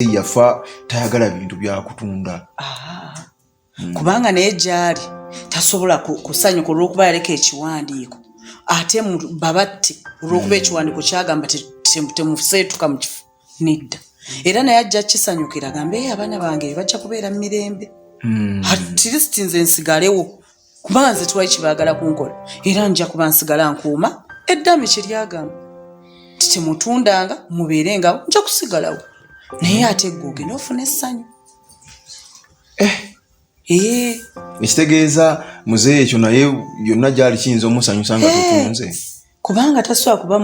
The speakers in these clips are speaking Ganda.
muzeeyi yafa tayagala bintu byakutunda hmm. kubanga naye gyali tasobola kusanyuka olwokuba yaleka ekiwandiiko ate babatte olwokuba hmm. ekiwandiiko kyagamba temuseetuka mu kifo nedda era naye ajja kisanyukira gambe abaana bange bajja kubeera mu mirembe hmm. at least nze nsigalewo kuba nze twali kyebaagala kunkola era nja kuba nsigala nkuuma eddami kye lyagamba nti temutundanga mubeere ngawo nja kusigalawo naye ate gwe ogenda ofuna essanyu eh. eh. ekitegeeza muzeeyi ekyo naye yonna gyali kiyinza omusanyusa nga eh. tutunze kubanga tasobola kuba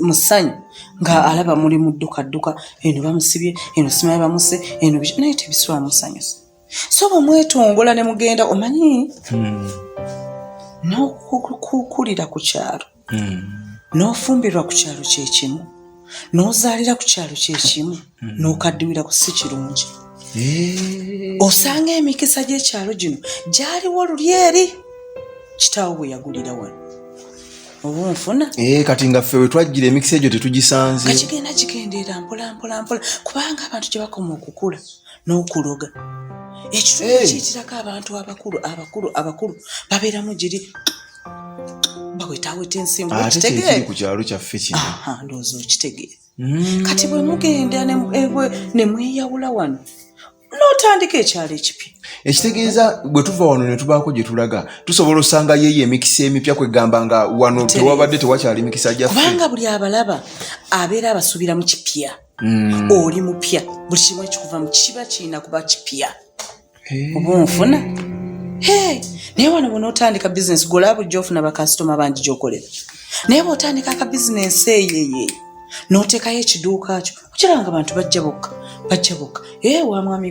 mu ssanyu nga alaba muli muddukadduka eno bamusibye eno simaye bamuse eno naye tebisobola musanyusa so bwemwetongola ne mugenda omanyi hmm. n'okukulira ku kyalo hmm. n'ofumbirwa ku kyalo kyekimu n'ozaalira ku kyalo kyekimu hmm. n'okaddiwira ku si kirungi eh. osanga emikisa gy'ekyalo gino gyaliwo luli eri kitaawo bwe yagulira wano obunfuna eh, kati nga ffe wetwajjira emikisa egyo tetugisanze kakigenda kigendeera mpolampolampola kubanga abantu gye bakoma okukula n'okuloga ekitundu eh. kiyitirako abantu abakulu abakulu abakulu babeeramu giri bawetaweta ensimbu ku kyalo kyaffe kino ndowooza okitegeera mm. kati bwe mugenda ne mweyawula wano notandika ekyalo ekipya ekitegeeza bwe tuva wano ne tubaako gye tulaga tusobola osanga yeeyo emikisa emipya kwegamba nga wano tewabadde tewakyali mikisa gya kubanga buli abalaba abeera abasuubira mu kipya mm. oli mupya buli kimu ekikuvamu kiba kirina kuba kipya eh. oba onfuna naye wano bona otandika bizinesi golaba ojja ofuna bakasitoma bangi gyokolera naye bwotandika aka bizinesi eyeye notekayo ekiduuka kyo okiraba nga bantu bajja bokka bajja bokka ee eh, wamwami